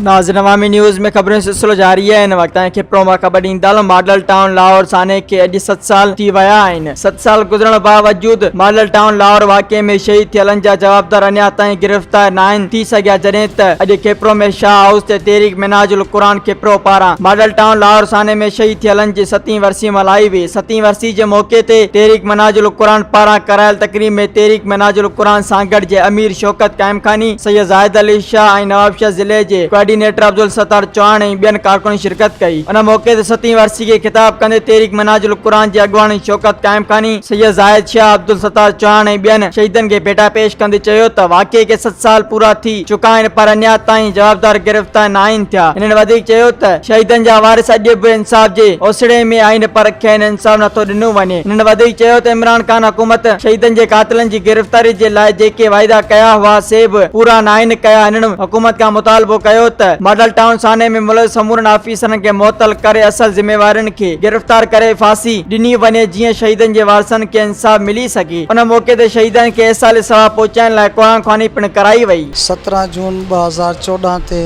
ناظرين عوامي نيوز ۾ خبرن جو سلسلو جاري آهي هن وقت تائين کپرو مان خبر ڏيندڙ ماڊل ٽائون لاهور سانحي کي اڄ ست سال ٿي ويا آهن ست سال گذرڻ باوجود ماڊل ٽائون لاهور واقعي ۾ شهيد ٿيلن جا جوابدار اڃا تائين گرفتار ناهن ٿي سگهيا جڏهن ته اڄ کپرو ۾ شاهه هائوس تي تحريڪ منهاج القرآن کپرو پاران ماڊل ٽائون لاهور سانحي ۾ شهيد ٿيلن جي ستين ورسي ملهائي وئي ستين ورسي جي موقعي تي تحريڪ منهاج القرآن پاران ڪرايل تقريب ۾ تحريڪ منهاج القرآن سانگهڙ جي امير شوڪت قائمخاني، سيد زاهد علي شاهه ۽ نوابشاهه ضلعي جي ڪوآرڊينيٽر عبدالستار چوهاڻ ۽ ٻين ڪارڪنن شرڪت ڪئي. ان موقعي تي ستين ورسي کي خطاب ڪندي تحريڪ منهاج القرآن جي اڳواڻ شوڪت قائمخاني، سيد زاهد شاهه، عبدالستار چوهاڻ ۽ ٻين شهيدن کي ڀيٽا پيش ڪندي چيو ته واقعي کي ست سال پورا ٿي، چڪا آهن پر اڃا تائين جوابدار گرفتار ناهن ٿيا. هنن وڌيڪ چيو ته شهيدن جا وارث اڄ به انصاف جي اوسيڙي ۾ آهن پر کين انصاف نٿو ڏنو وڃي. هنن وڌيڪ چيو ته عمران خان حڪومت شهيدن جي قاتلن جي گرفتاري جي لاء جيڪي واعدا ڪيا هئا سي به پورا ناهن ڪيا. هنن حڪومت کان مطالبو ڪيو ته ماڊل ٽائون ثاني ۾ ملوث سمورن آفيسرن کي معطل ڪري اصل ذميوارن کي گرفتار ڪري ڦاسي ڏني وڃي جيئن شهيدن جي وارثن کي انصاف ملي سگهي. ان موقعي تي شهيدن کي ايصال ثواب پهچائڻ لاء قرآن خواني پڻ ڪرائي وئي. سترهن جون ٻه هزار چوڏهن تي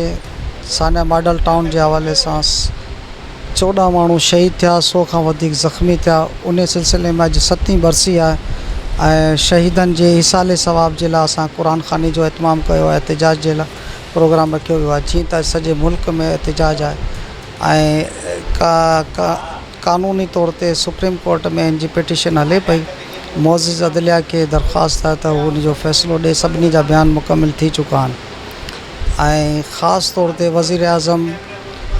سانيا ماڊل ٽائون جي حوالي سان چوڏهن ماڻهو شهيد ٿيا، سؤ کان وڌيڪ زخمي ٿيا، انهي سلسلي ۾ اڄ ستين برسي آهي ۽ شهيدن جي ايصال ثواب جي لاء اسان قرآن خواني جو اهتمام ڪيو آهي، احتجاج جي لاء پروگرام رکيو ويو آهي، جيئن ته اڄ سڄي ملڪ ۾ احتجاج آهي. ۽ قانوني طور تي سپريم ڪورٽ ۾ ان جي پٽيشن هلي پئي معزز عدليه کي درخواست آهي ته هو ان جو فيصلو ڏئي سڀني جا بيان مڪمل ٿي چڪا آهن ۽ خاص طور تي وزيراعظم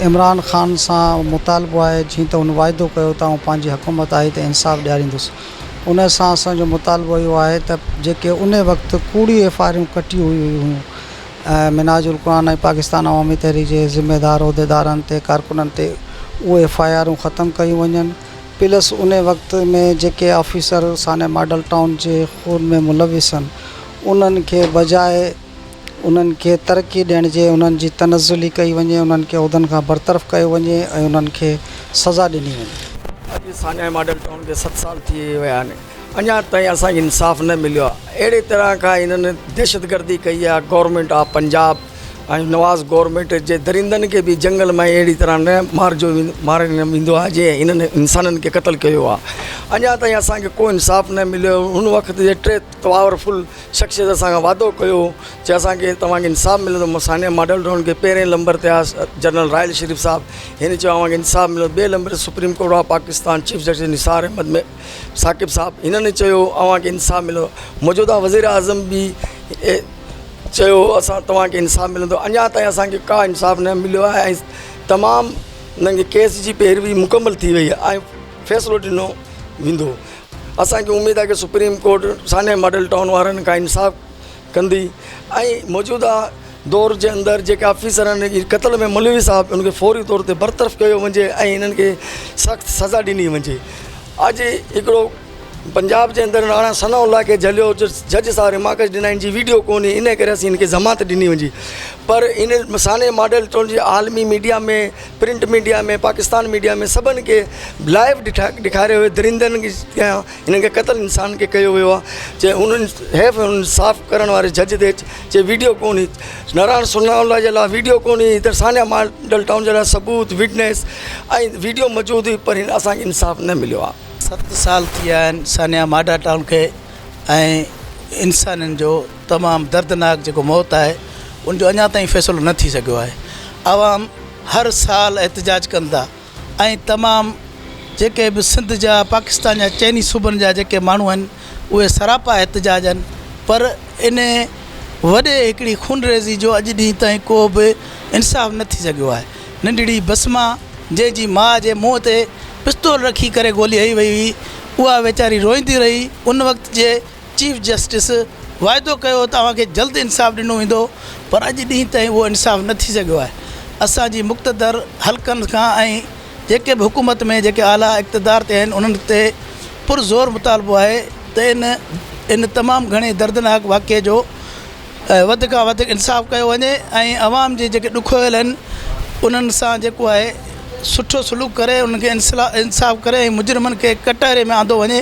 عمران خان سان مطالبو آهي جيئن ته هن واعدو ڪيو ته آئون پنهنجي حڪومت آئي ته انصاف ڏياريندس ان سان اسان جو مطالبو اهو آهي ته جيڪي ان وقت ڪوڙيون ايف آء آرون ڪٽيون ويون هيون منهاج القرآن ۽ پاڪستان عوامي تحريڪ جي ذميوار عهديدارن تي ڪارڪنن تي اهي ايف آء آرون ختم ڪيون وڃن پلس ان وقت ۾ جيڪي آفيسر سانحه ماڊل ٽائون جي خون ۾ ملوثن انهن کي بجاء انهن کي ترقي ڏيڻ جي انهن جي تنزلي ڪئي وڃي انهن کي عهدن کان برطرف ڪيو وڃي ۽ انهن کي سزا ڏني وڃي. اڄ سانحه ماڊل ٽائون کي ست سال ٿي ويا آهن اڃا تائين اسان کي انصاف نه مليو آهي اهڙي طرح کان هنن دهشتگردي ڪئي آهي government of Punjab ۽ Nawaz government جي درندن کي به جنگل مان اهڙي طرح نه مارجو ماري نه ويندو آهي جي هنن انسانن کي قتل ڪيو آهي اڃا تائين اسان کي ڪو انصاف نه مليو هن وقت جي ٽي پاورفل شخصيت اسان کان وعدو ڪيو جي اسانکي توهان کي انصاف ملندو سانيا ماڊل ٽائون کي پهرين نمبر تي آس جنرل راحيل شريف صاحب هن چيو اوهان کي انصاف ملندو ٻي نمبر supreme court of Pakistan chief justice Nisar Ahmed Saqib صاحب هنن چيو اوهان کي انصاف ملندو موجوده وزير اعظم به چيو اسان توهان کي انصاف ملندو اڃا تائين اسان کي ڪا انصاف نه مليو آهي ۽ تمام انهن جي ڪيس جي پيروي مڪمل ٿي وئي آهي ۽ فيصلو ڏنو ويندو اسان کي اميد آهي ته سپريم ڪورٽ سانحي ماڊل ٽائون وارن کان انصاف ڪندي ۽ موجوده دور جي اندر جيڪي آفيسر آهن ان قتل ۾ ملوث آهن انهن کي فوري طور تي برطرف ڪيو وڃي ۽ انهن کي سخت سزا ڏني وڃي اڄ هڪڙو پنجاب جي اندر راڻا ثناء الله کي جهليو جج صاحب رماڪش ڏنا ان جي ويڊيو ڪونهي ان ڪري اسين ان کي ضمانت ڏني وڃي پر ان سانحي ماڊل ٽون جي عالمي media ۾ print media ۾ Pakistan media ۾ سڀن کي لائيو ڏٺا ڏيکاريو ويو درندن جي هنن کي قتل انسان کي ڪيو ويو آهي چي انهن حيف انهن صاف ڪرڻ واري جج تي چي ويڊيو ڪونهي نارائڻ سرناولا جي لاء ويڊيو ڪونهي ادھر سانيا ماڊل ٽائون جي لاء ثبوت وٽنيس ۽ ويڊيو موجود هئي پر اسانکي انصاف نه مليو آهي ست سال ٿي ويا آهن سانيا ماڊل ٽائون کي ۽ انسانن جو تمام دردناڪ جيڪو موت آهي ان جو اڃا تائين فيصلو نه ٿي سگھيو آهي عوام هر سال احتجاج ڪن ٿا ۽ تمام جيڪي به سنڌ جا پاڪستان جا چئني صوبن جا جيڪي ماڻهو آهن اهي سراپا احتجاج آهن پر ان وڏي هڪڙي خونريزي جو اڄ ڏينهن تائين ڪو به انصاف نه ٿي سگهيو آهي ننڍڙي بسما جنهن جي ماء جي منهن تي پستول رکي ڪري گولي هنئي وئي هئي اها ويچاري روئيندي رهي ان وقت جي چيف جسٽس واعدو ڪيو ته اوهان کي جلد انصاف ڏنو ويندو پر اڄ ڏينهن تائين اهو انصاف نه ٿي سگهيو آهي اسان جي مقتدر حلقن کان ۽ جيڪي به حڪومت ۾ جيڪي اعليٰ اقتدار تي آهن انهن تي پر زور مطالبو آهي ته ان ان تمام گهڻي دردناڪ واقعي جو وڌ کان وڌ انصاف ڪيو وڃي ۽ عوام جي جيڪي ڏکويل آهن انهن سان جيڪو آهي سٺو سلوڪ ڪري انهن کي انصاف ڪري ۽ مجرمن کي ڪٽهري ۾ آندو وڃي